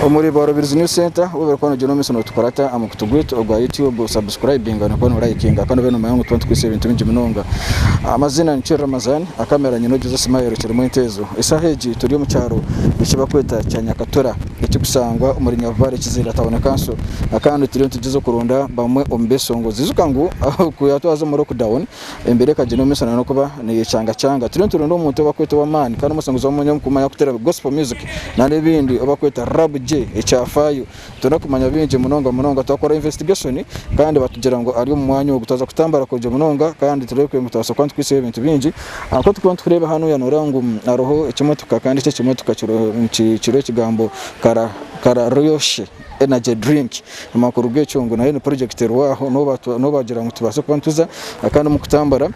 omuri Borobirs News Center obu bari kuba nibagyenda omu maisho nootukora ta aha mukutu gwaitu ogwa YouTube osubscribinga nokuba noolayikinga kandi obe noomanya ngu tuba nitukwiitsa ebintu bingi munonga amaziina nikyo Ramazan akamera nyine ogize smile kirimu entezo esaaha egi turi omu kyaro ekibakweta kya Nyakatura ekirikusangwa omuri Nyabibare Kiziira Town Council kandi turiyo nitugyezaho okuronda bamwe omu b'eshongozi. Ijuka ngu ku yaatwaza omu lockdown, embeera ekagyenda omu maisho na n'okuba neyecangacaanga. Turiyo nituronda omuntu ou barikweta ow'amaani kandi omushongozi wa munonga omukuumi arikuteera Gospel music nari ebindi ou barikweta Rab J ekyafaayo. Nituronda kumanya bingi munonga munonga. Twakora investigation kandi batugira ngu ari omu mwanya ogu. Twaza kutambura kurungi munonga kandi tureebekire ngu nitwabasa kuba nitukwihisayo ebintu bingi. Nk'oku turikuba nitureeba hanu oya nooreeba ngu hariho ekimotoka kandi eki ekimotoka kiriho ekigambo Karaha. Kara Ryoshi Energy Drink. Amakuru g'ekyo ngu nayo ni purojekiti erwaho n'obu baagira ngu tubaase kuba nituza kandi omu kutambura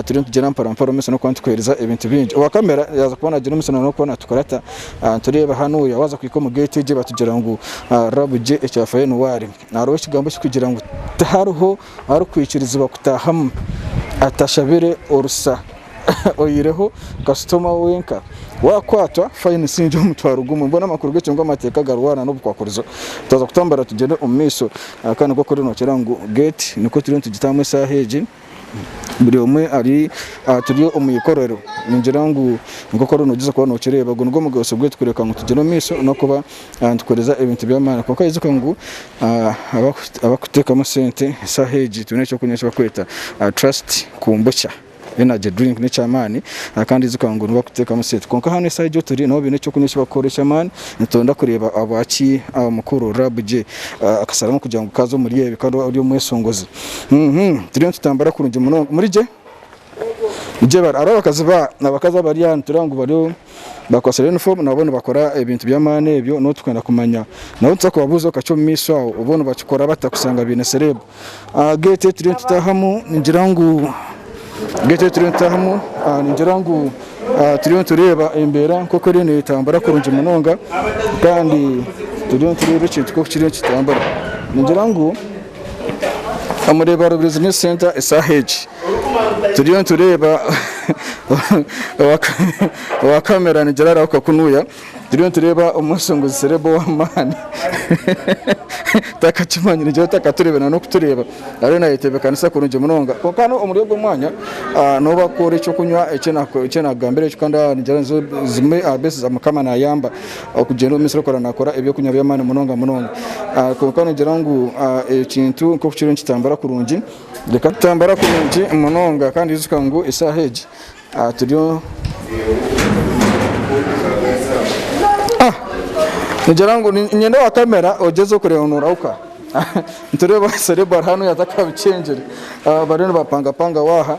turiyo nitugyenda mpora-mpora omu maisho n'okuba nitukuheereza ebintu bingi. Owa kamera yaaza kuba naagira omu maisho n'okuba naatukurata. Nitureeba hanuuya waaza kuhika omu geeti egyo baatugira ngu raba gye ekya Fayonuwaari. Hariho ekigambo ekirikugira ngu tihariho. arikwikirizibwa kutaahamu atashabire orusa oyireho kasitoma wenka wakwatwa fayini si ngi omutwaro gumwe mbwenu amakuru g'ekyo ngu amateeka garwana n'obukwakurizo twaza kutambura tugyende omu maisho aha kandi nk'okuri nookira ngu geeti nikwo turiyo nitugitaamu eshaaha egi buri omwe ari aha turi omu ikorero ningira ngu nk'okuri noogyeza kuba nookireeba ogu nigwo mugasho gwaitu kureka ngu tugyere omu maisho n'okuba nitukoreza ebintu by'amaani kwonka ijuka ngu abarikuteekamu sente eshaaha egi twine ekyokunywa eki barikweta trust kombucha energy drink n'ekyamaani kandi ijuka ngu nibo barikuteekamu sente kwonka hanu eshaaha egi oturi nabo baine ekyokunywa eki barikukora eky'amaani nituronda kureeba ahabwa ki mukuru Rab J akasharamu kugira ngu kaaza omuri ebi kandi ori omweshongozi turiyo nitutambura kurungi munonga muri gye hariho abakazi abari aha nitureba ngu bariyo bakwatsire yunifoomu nabo nibakora ebintu by'amaani ebyo n'obu turikwenda kumanya nabo nituza kubabuuza obu kati omumaisho aho obu nibakikora bata kushanga baine sereebu. Aha geeti ei turiyo nitutaahamu ningira ngu geeti ei turiyo nitutaahamu ningira ngu turiyo nitureeba embeera nk'oku eriyo neetambura kurungi munonga kandi turiyo nitureeba ekintu nk'oku kiriyo nikitambura ningira ngu Omureba Business Centre eshaaha egi turiyo nitureeba owa camera nigira arahuka kunuya turiyo nitureeba omweshongozi celeb owamaani takakimanyire nigira otakatureeba na n'okutureeba ariyo nayetebekanisa kurungi munonga kwonka hanu omuri ogu omwanya nobu bakukuhora ekyokunywa eki nakugambira ekyo kandi nigira zimwe aha blessings za mukama nayamba. Okugyenda omu misiri okora nakora eby'okunywa by'amaani munonga munonga. Kwonka noogira ngu ekintu nk'oku kiriyo nikitambura kurungi, reka. Kitambura kurungi munonga kandi ijuka ngu eshaaha egi turiyo. Nigira ngu niinyenda owa kamera ogyeze kureeba ngu noorahuka. Nitureeba Cerebral hanu yaza kuba bikyengire. Bariyo nibapangapanga waaha.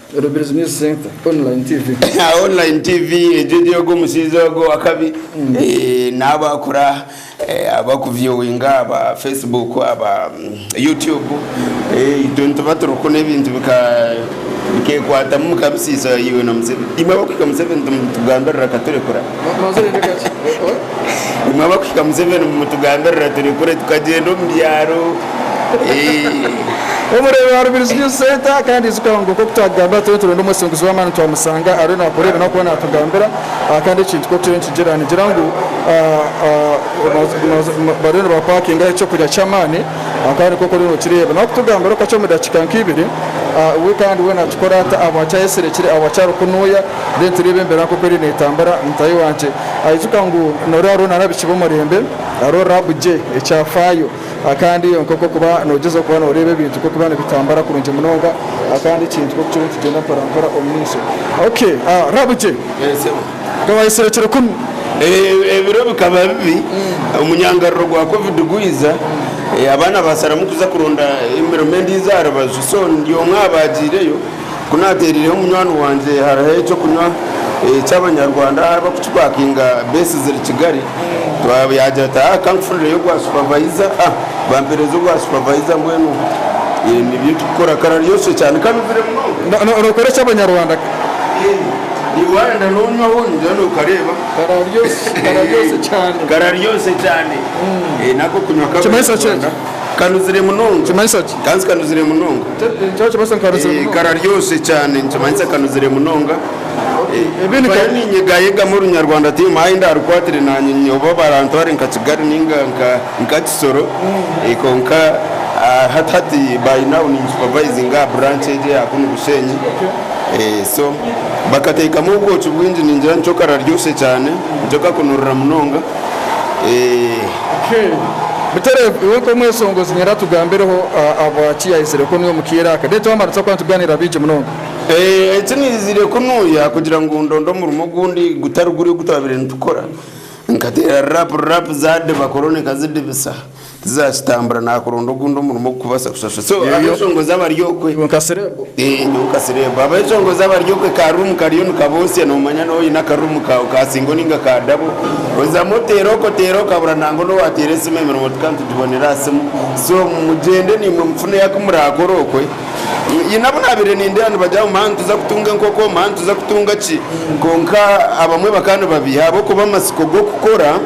Rubirizi News Centre Online TV. Online TV egyo egyo ogwo omushaija ogwo owakabi naabo akura abaku viewinga aba Facebook aba YouTube itwe nituba turikukuna ebintu bikekwatamu bikabisiisa iwe na Museveni imwe abakuhika Museveni nitumugambirira akaturekura. Nimwe abakuhika Museveni mumutugambirira turi kure tukagyenda omu byaro. Obu reeba aha Rubirizi News Centre kandi ijuka ngu nk'oku twagamba twena turonda omwesinguzi w'amaani twamusanga ariyo nakora ebi n'ahakuba natugambira kandi ekintu nk'oku kiriyo nikigira nigira ngu bariyo nibapakingaho eky'okurya ky'amaani kandi nk'oku oriyo nokireeba n'okutugambira okukakye omu dakiika nk'ibiri we kandi we nakikora ata ahabwaki ayesirekire ahabwaki arikunuya Reero tureebe embeera nk'oku eriyo neetambura. Mutaahi wangye aijuka ngu noori hariho nana abaishiki b'omurembe, hariho Rab J, ekyafaayo, kandi nk'oku orikuba noogyezaho okuba nooreeba ebintu nk'oku biriba nibitambura kurungi munonga, kandi ekintu nk'oku kiriyo nikigyenda mporampora omu maisho. OK, Rab J, ka waayesire kiro kunu? Ebiro bikaba bibi, omunyangariro gwa Covid gwaiza, abaana baasaramu kuza kuronda emirimo endiijo aha rubaju, so ndi omwe aha baagiireyo. Ku naateereireho munywani wangye hariho eky'okunywa eky'Abanyarwanda ahu barikukipakinga beesi ziri Kigali, yaagira ati haa kankufunireyo ogwa supavayiza, bampeereza ogwa supavayiza mbwenu nibyo turikukora. Kararyoosye cyane kanuzire munonga. Nookora eky'Abanyarwanda? Ee, waayenda noonywaho noogira nookareeba. Kararyoosye cyane. Kararyoosye cyane. Nako kunywa kw'Abanyarwanda. Nikimanyisa ki ekyo? Kanuzire munonga. Nikimanyisa ki? Kanzi kanuzire munonga. Nikyo nikimanyisa ngu kanuzire Eh, munonga. kararyoshe kyane nikimanyisa kanuzire munonga Okay, Eh, ebi ni mpayo ka- ninyegayegamu orunyarwanda tihaine ahu ndaarukwatire naanye nyowe oba barantware nka kigali ninga nka nka kisoro Eh, kwonka ah, hati hati by now ninsupavaizinga aha branch egi eya kunu bushenyi Eh, so bakateekamu obwoki bwingi ningira nikyo kararyoshe kyane nikyo kakunurira munonga Butere iwe nk'omwesongozi nyenda tugambireho ahabwaki yahitsire kunu omu kiire aka. Then twamara tuza kuba nitugaaniira bingi munonga. Eki naizire kunuya kugira ngu ndonde omurimo ogundi gutari guri ogu twabaire nitukora. Nkateera rap rap zaadiba korona ekazidibisa. Tizakitambura nakuronda ogundi omurimo ogukubasa kushashura so Yoyo. abeshongoza abari okwe Iwe nka serebu. Eh, nyowe nka serebu abeshongoza abari okwe ka room kariyo nikabosya nomanya noba oyine aka room kawe ka singo ninga ka dabo ozamu oteera oku oteera oku okabura nangwa nowateera esimu emirimo tukaba nitugibonera aha simu so mugyende nimwe mufuneyo aku murakora okwe nyine abu nabire nindeeba nibagira ngu maa nituza kutunga enkoko maa nituza kutunga ki kwonka abamwe bakaba nibabiiha ahabw'okuba amatsiko g'okukora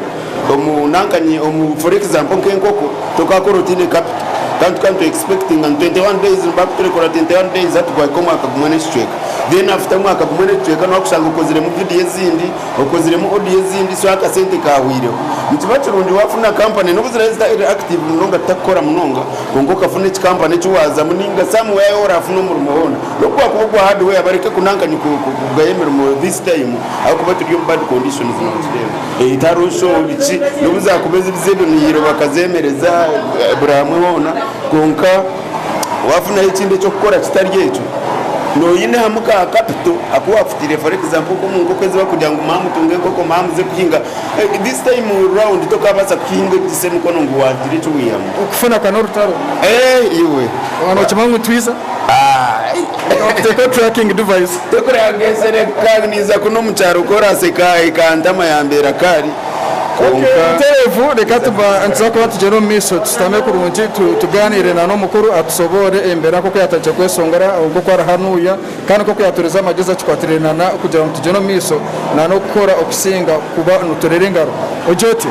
Omu nanka nye omu for example nka enkoko tokakora otiine capital kandi tuka nitu expectinga ngu 21 days nibaha kuturekora 21 days hati gwahika omwaka gumwe n'ekicweka then after omwaka gumwe n'ekicweka noha kushanga okoziremu video ezindi okoziremu audio ezindi so akasente kahwireho. Nikiba kirungi wafuna company nobu ziraabe zitari ziri active munonga tutakukora munonga kwonka okafuna eki company eki wazamu ninga some where yaaba orafuna omurimo hoona nobu gwakuba ogwa hardware bareke ku nanka nye kugaya emirimo this time ahakuba turi omu bad conditions nokireeba. Entarooso, ki n'obu zaakuba eziri z'ebimiiro bakazeemereza buri hamwe hoona kwonka waafunayo ekindi eky'okukora kitari ekyo noine hamu ka kapito aku waafutaire for example nk'omu nkoko ezi barikugira ngu mwamutunga enkoko mwamuze kuhinga this time round tokaabaasa kuhinga ogiitse emikono ngu waagira eki waihamu. Okufuna ka n'orutaro. Eeh iwe. Waaba nookimanya ngu nitwiza. Teekaho tracking device. Tekuranga esere nkaabi niiza kunu omu kyaro ku oraaseka ekantama yaambeera kaari kwonka. Butereevu reka nituza kuba nitugyenda omu maisho tushutame kurungi tugaaniire na n'omukuru atushoboore embeera nk'oku yaatandikire kweshongora nk'oku arahanuuya kandi nk'oku yaatuurize amagezi akikwatiraine na kugira ngu tugyende omu maisho na n'okukora okusinga kuba nitureera engaro. Ogye otyo?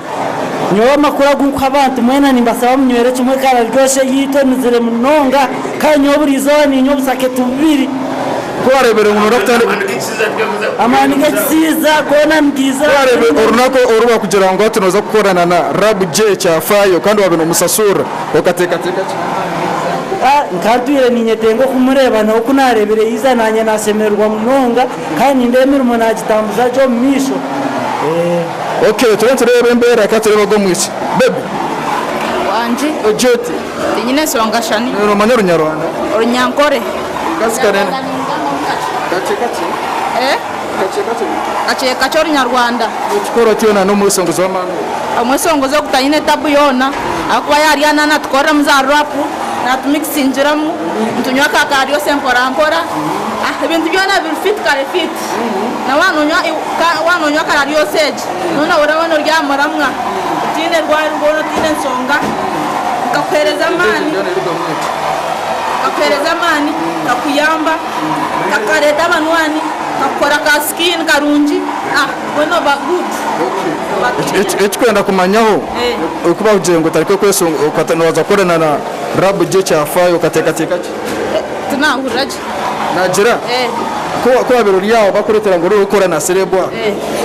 Nyowe amakuru agu nkuha abantu mwena nimbasaba munywere kimwe ekara ryosha eyaitu enuzire munonga kandi nyowe buri izooba niinywa obusaketi bubiri. Ku waareebire ngu nooza kutandika kukorana na Rab J, amaani g'ekisiiza goona nigaiza. Ku waareebire orunaku oru baakugira ngu hati nooza kukorana na Rab J kyafaayo kandi waabe noomusashuurira, okateekateeka ki? Nkaba ntwire niinyetenga okumureeba, nawe ku naareebire yaiza, naanye naashemererwa munonga. Kandi nindeeba emirimo naagitambuza gye omu maisho. Eeh. Ok turiyo nitureeba embera ka tureebe ogu omwishiki. Baby. Wangye. Ogye oti? Tinyine ensonga shani. Nawe nomanya orunyarwanda? Orunyankore. Omukazi kare. Kakye kakye. Eh? Kakye kakye. Kakye kakye orunyarwanda. Nokikora otya na n'omwesongozi w'amaani ogu? Omwesongozi ogu tayine tabu yoona ahakuba yaarya na naatukoreramu za rap, naatu mixingiramu, nitunywa ka kaaryose mporampora. Ah, ebintu byona biri fit kare fit. Na wanonywa iw- ka- wanonywa kara lyose egi. No nawe oraba noryamura mwa. Otiine rwari rwona otiine ensonga. Nkakuhereza amaani. Byona ebiruga mweki. Nkakuhereza amaani. Nkakuyamba. Nkakareta abanywani. Nkakukora ka skin karungi. Ah, we noba good. Okay. Noba Eki- clean. eki- Ekikwenda kumanyaho, Eh. oku bakugire ngu otareke kwesonga, okata- nobaza kukorana na rabu gye ekyafaayo, okateekateeka ki? Tinahurira gye. Naagira, Ku waabaire ori aho baakureetera ngu oriho kukora na sereebu aho,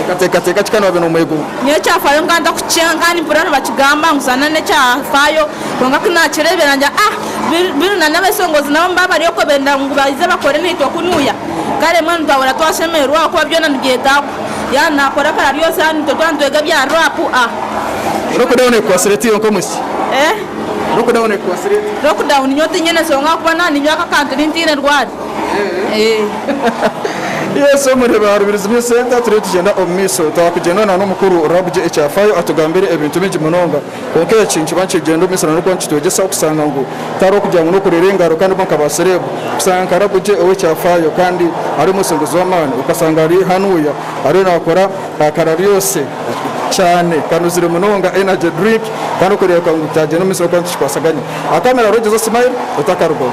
okateekateeka ki kandi waabaire noomwegomba? Nyowe ekyafaayo nkaba ntakukikyanga kandi mpurira nibakigamba ngu zaana n'ekyafaayo. Kwonka ku naakireebire naagira, Ah! Bill na n'abeesongozi nabo nibaaba bari okwo beenda ngu baije bakore naitwe kunuya. Kare mbwenu twahurira twashemererwa ahakuba byona nibyetaagwa. Yaaba naakora akara ryoosi haaba nitwe twaba nitwega ebya raapu. A. Orikureeba neekukwatsire oti iwe nk'omwisiki? A. Lockdown nyowe tinyine ensonga ahakuba naaba ninywa aka kantu ndi ntaine rwari. Yes omurebe aharubirizi bye center turiyo tugyenda omumaisho twakugyenda na nomukuru Rabugye ekyafayo atugambire ebintu bingi munonga kwonka eki nikiba nikigyenda omumaisho na nokuba nikitwegyesa okusanga ngu tihariho okugira ngu nokurera engaro kandi bo nka ba serebu kusanga nka Rabugye owekyafayo kandi ari omwesenguzi wamani okasanga ari hanuya ariyo nakora Ka karabyose kyane, kanuzire munonga energy drink kandi okureebeka ngu byagyenda omu maisho ahabw'okuba nitukikwasaganya. Akamera rojo zo smile otakarugaho.